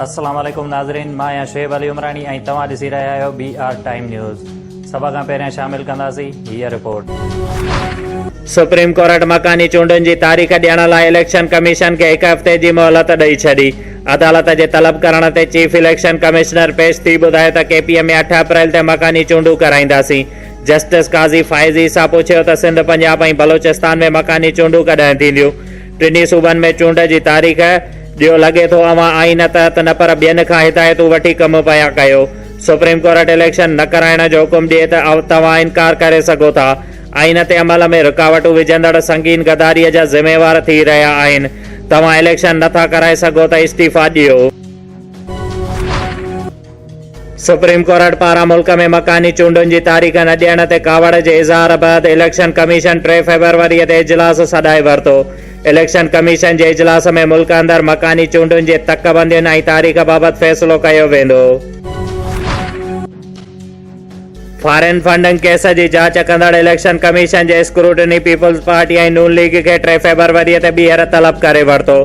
السلام عليڪم ناظرين مان آهيان شعيب علي عمراڻي ۽ توهان ڏسي رهيا آهيو بي آر ٽائيم نيوز سڀ کان پهريان شامل ڪنداسين هي رپورٽ سپريم ڪورٽ مڪاني چونڊن جي تاريخ ڏيڻ لاء اليڪشن ڪميشن کي هڪ هفتي جي مهلت ڏئي ڇڏي عدالت جي طلب ڪرڻ تي چيف اليڪشن ڪمشنر پيش ٿي ٻڌايو ته ڪي پي ايم ۾ اٺ اپريل تي مڪاني چونڊون ڪرائينداسين جسٽس قاضي فائز عيسيٰ پڇيو ته سنڌ، پنجاب ۽ بلوچستان ۾ مڪاني چونڊون ڪڏهن ٿينديون؟ ٽنهي صوبن ۾ چونڊ جي تاريخ ڏيو، لڳي ٿو اوهان آئين تحت نه پر ٻين کان هدايتون وٺي ڪم پيا ڪيو، سپريم ڪورٽ اليڪشن نه ڪرائڻ جو حڪم ڏئي ته توهان انڪار ڪري سگهو ٿا، آئين تي عمل ۾ رڪاوٽون وجهندڙ سنگين غداري جا ذميوار ٿي رهيا آهن، توهان اليڪشن نه ٿا ڪرائي سگهو ته استعيفيٰ ڏيو. سپريم ڪورٽ پاران ملڪ ۾ مڪاني چونڊن جي تاريخ نه ڏيڻ تي ڪاوڙ جي اظهار بعد اليڪشن ڪميشن ٽي فيبروري تي اجلاس سڏائي ورتو. اليڪشن ڪميشن جي اجلاس ۾ ملڪ اندر مڪاني چونڊن جي تڪ بندين ۽ تاريخ بابت فيصلو ڪيو ويندو. فارين فنڊنگ ڪيس جي جاچ ڪندڙ اليڪشن ڪميشن جي اسڪروٽني پيپلز پارٽي ۽ نون ليگ کي ٽي فيبروري تي ٻيهر طلب ڪري ورتو.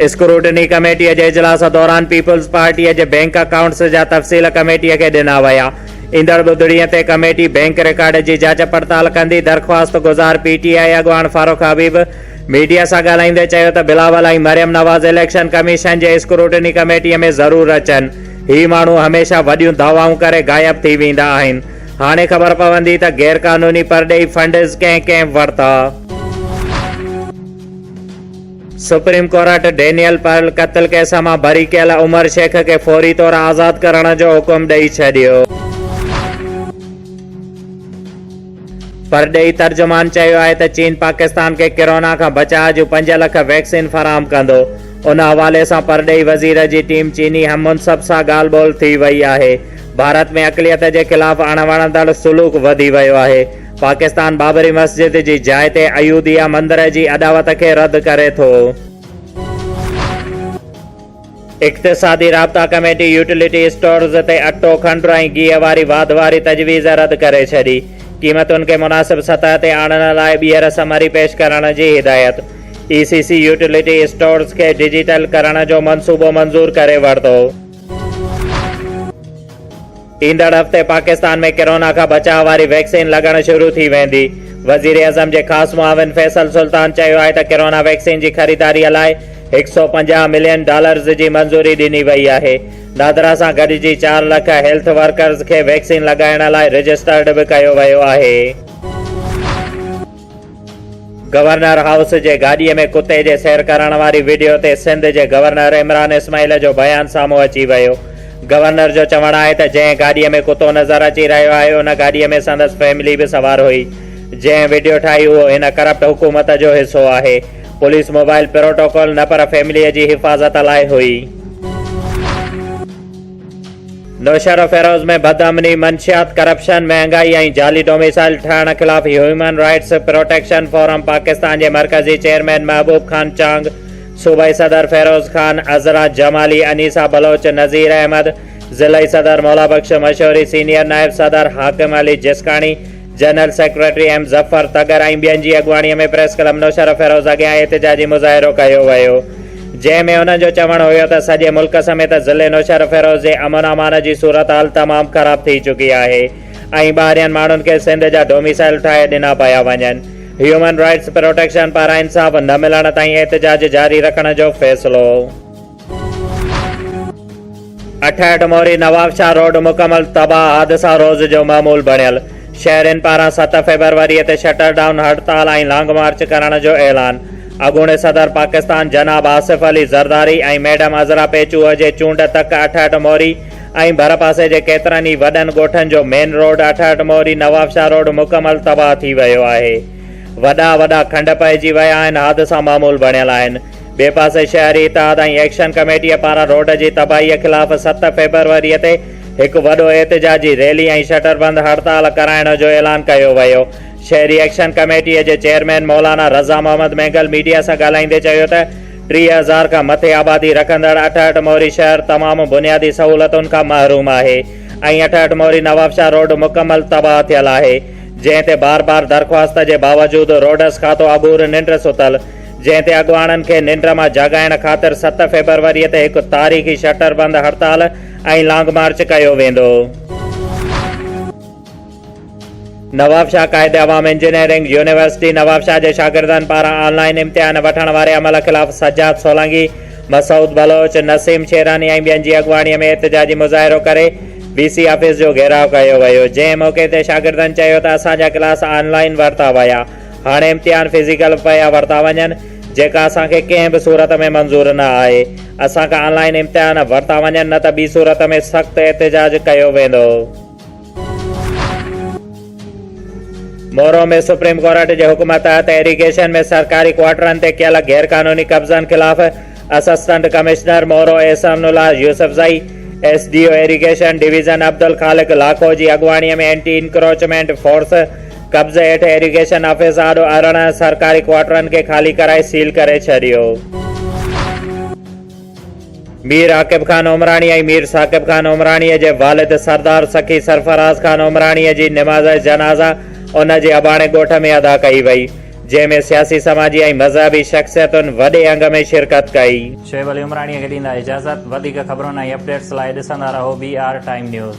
اسڪروٽني ڪميٽي جي اجلاس دوران پيپلز پارٽي جي بئنڪ اڪائونٽس جا تفصيل ڪميٽي کي ڏنا ويا. ايندڙ ٻڌڻي تي ڪميٽي بئنڪ رڪارڊ جي جاچ پڙتال ڪندي، درخواست گذار پي ٽي آء اڳواڻ فاروق حبيب ميڊيا سان ڳالهائيندي چيو ته بلاول ۽ مريم نواز اليڪشن ڪميشن جي اسڪروٽني ڪميٽي ۾ ضرور اچن. هي ماڻهو هميشه وڏيون دعوائون ڪري غائب ٿي ويندا آهن. هاڻي خبر پوندي ته غير قانوني پرڏيهي فنڊز ڪنهن ڪنهن ورتا. سپريم ڪورٽ ڊينيل پرل قتل ڪيس مان بري ڪيل عمر شيخ کي فوري طور آزاد ڪرڻ جو حڪم ڏئي ڇڏيو. پرڏيهي ترجمان چيو آهي ته چين پاڪستان کي ڪرونا کان بچاء جون پنج لک ويڪسين فراهم ڪندو. ان حوالي سان پرڏيهي وزير جي ٽيم چيني هم منصب سان ڳالهه ٻولهه ٿي وئي آهي. ڀارت ۾ اقليت جي خلاف اڻ وڻندڙ سلوڪ وڌي ويو آهي. پاڪستان بابري مسجد جي جاء تي ايوڌيا مندر جي اڏاوت کي رد ڪري ٿو. اقتصادي رابطا ڪميٽي يوٽيلٽي اسٽورز تي اٽو، کنڊ ۽ گيهه واري واڌ واري تجويز رد ڪري ڇڏي، قيمتن کي مناسب سطح تي آڻڻ لاء ٻيهر سمري پيش ڪرڻ جي هدايت، E C C utility stores کي ڊجيٽل ڪرڻ جو منصوبو منظور ڪري ورتو. ايندڙ هفتي پاڪستان ۾ ڪرونا کان بچاء واري ويڪسين لڳڻ شروع ٿي ويندي. وزيراعظم جي خاص معاون فيصل سلطان چيو آهي ته ڪرونا ويڪسين جي خريداري لاء هڪ سؤ پنجاهه ملين ڊالرز جي منظوري ڏني وئي آهي. نادرا سان گڏجي چار لک هيلٿ ورڪرز کي ويڪسين لڳائڻ لاء رجسٽرڊ به ڪيو ويو آهي. گورنر هائوس جي گاڏي ۾ ڪتي جي سير ڪرڻ واري وڊيو تي سنڌ جي گورنر عمران اسماعيل جو بيان سامهون اچي ويو. گورنر جو چوڻ آهي ته جنهن گاڏي ۾ ڪتو نظر اچي رهيو آهي ان گاڏي ۾ سندس فيملي به سوار هئي. جنهن وڊيو ٺاهي اهو هن ڪرپٽ حڪومت جو حصو آهي. پوليس موبائل پروٽوڪول نه پر فيملي جي حفاظت لاء هئي. نوشهروفيروز ۾ بد امني، منشيات، ڪرپشن، مهانگائي ۽ جعلي ڊوميسائل ٺهڻ خلاف human rights protection forum Pakistan جي مرڪزي چيئرمين محبوب خان چانگ، صوبائي صدر فيروز خان، عذرا جمالي، انيسا بلوچ، نذير احمد، ضلعي صدر مولابخش مشوري، سينيئر نائب صدر Hakim Ali Jaskani, general secretary M Zafar Tagar ۽ ٻين جي اڳواڻي ۾ پريس ڪلب نوشهره فيروز اڳيان احتجاجي مظاهرو ڪيو ويو جنهن ۾ انهن جو چوڻ هيو ته سڄي ملڪ سميت ضلعي نوشهره فيروز جي امن امان جي صورتحال تمام خراب ٿي چڪي آهي ۽ ٻاهرين ماڻهن کي سنڌ جا ڊوميسائل ٺاهي ڏنا پيا وڃن هيومن رائٽس پروٽيڪشن پاران انصاف نه ملڻ تائين احتجاج جاري رکڻ جو فيصلو اٺهٺ موري نوابشاهه روڊ مڪمل تباهه حادثا روز جو معمول بڻيل، شهرين پاران ست فيبروري تي شٽر ڊائون هڙتال ۽ لانگ مارچ ڪرڻ جو اعلان، اڳوڻي صدر پاڪستان جناب آصف علي زرداري ۽ ميڊم عذرا پيچوء جي چونڊ تڪ اٺهٺ موري ۽ ڀرپاسي جي ڪيترن ئي وڏن ڳوٺن جو مين روڊ اٺهٺ موري نوابشاهه روڊ مڪمل تباهه ٿي ويو آهي وڏا وڏا کنڊ پئجي ويا آهن حادثا معمول بڻيل آهن. ٻئي پاسي شهري اتحاد ۽ ايڪشن ڪميٽيء پاران روڊ جي تباهيء خلاف ست فيبروريء تي هڪ وڏو احتجاجي ريلي ۽ شٽربند هڙتال ڪرائڻ جو اعلان ڪيو ويو. شهري ايڪشن ڪميٽيء جي چيئرمين مولانا رضا محمد مينگل ميڊيا سان ڳالهائيندي چيو ته ٽيهه هزار کان مٿي آبادي رکندڙ اٺهٺ موري شهر تمام بنيادي سهولتن کان محروم آهي ۽ اٺهٺ موري نوابشاهه روڊ مڪمل تباهه ٿيل آهي جنهن تي بار بار درخواست جي باوجود روڊس کاتو اگهور ننڊ ستل جنهن تي اڳواڻن کي ننڊ مان جاڳائڻ خاطر ست فيبروري تي هڪ تاريخي شٽر بند هڙتال ۽ لانگ مارچ ڪيو ويندو. نوابشاهه قائد عوام انجنيئرنگ يونيورسٽي نوابشاهه جي شاگردن پاران آن لائن امتحان وٺڻ واري عمل خلاف سجاد سولانگي، مسعود بلوچ، نسيم شيراني ۽ ٻين جي اڳواڻي ۾ احتجاجي مظاهرو ڪري وي سي آفيس جو گهيراء ڪيو ويو جنهن موقعي تي شاگردن چيو ته اسان جا ڪلاس آن لائن ورتا ويا هاڻي امتحان فزيڪل پيا ورتا وڃن جيڪا اسان کي ڪنهن به صورت ۾ منظور نه آهي اسان کان آن لائين امتحان ورتا وڃن نه ته ٻي صورت ۾ سخت احتجاج ڪيو ويندو. مورو ۾ سپريم ڪورٽ جي حڪم تحت ايريگيشن ۾ سرڪاري ڪوارٽرن تي ڪيل غير قانوني قبضن خلاف assistant commissioner Moro Ehsan Ullah Yousafzai, S D O irrigation division Abdul Khaliq Lakho جي اڳواڻي ۾ اينٽي انڪروچمينٽ فورس قبضي هيٺ ايريگيشن آفيس آڏو ارڙهن سرڪاري ڪوارٽرن کي خالي ڪرائي سيل ڪري ڇڏيو. مير عاقب خان عمراڻي ۽ مير ثاقب خان عمراڻي جي والد سردار سخي سرفراز خان عمراڻي جي نماز جنازه ان جي اباڻي ڳوٺ ۾ ادا ڪئي وئي، جنهن ۾ سياسي سماجي ۽ مذهبي شخصيتن وڏي انگ ۾ شرڪت ڪئي. شعيب علي عمراڻي کي ڏيندا اجازت. وڌيڪ خبرن ۽ اپڊيٽس لاء ڏسندا رهو بي آر ٽائيم نيوز.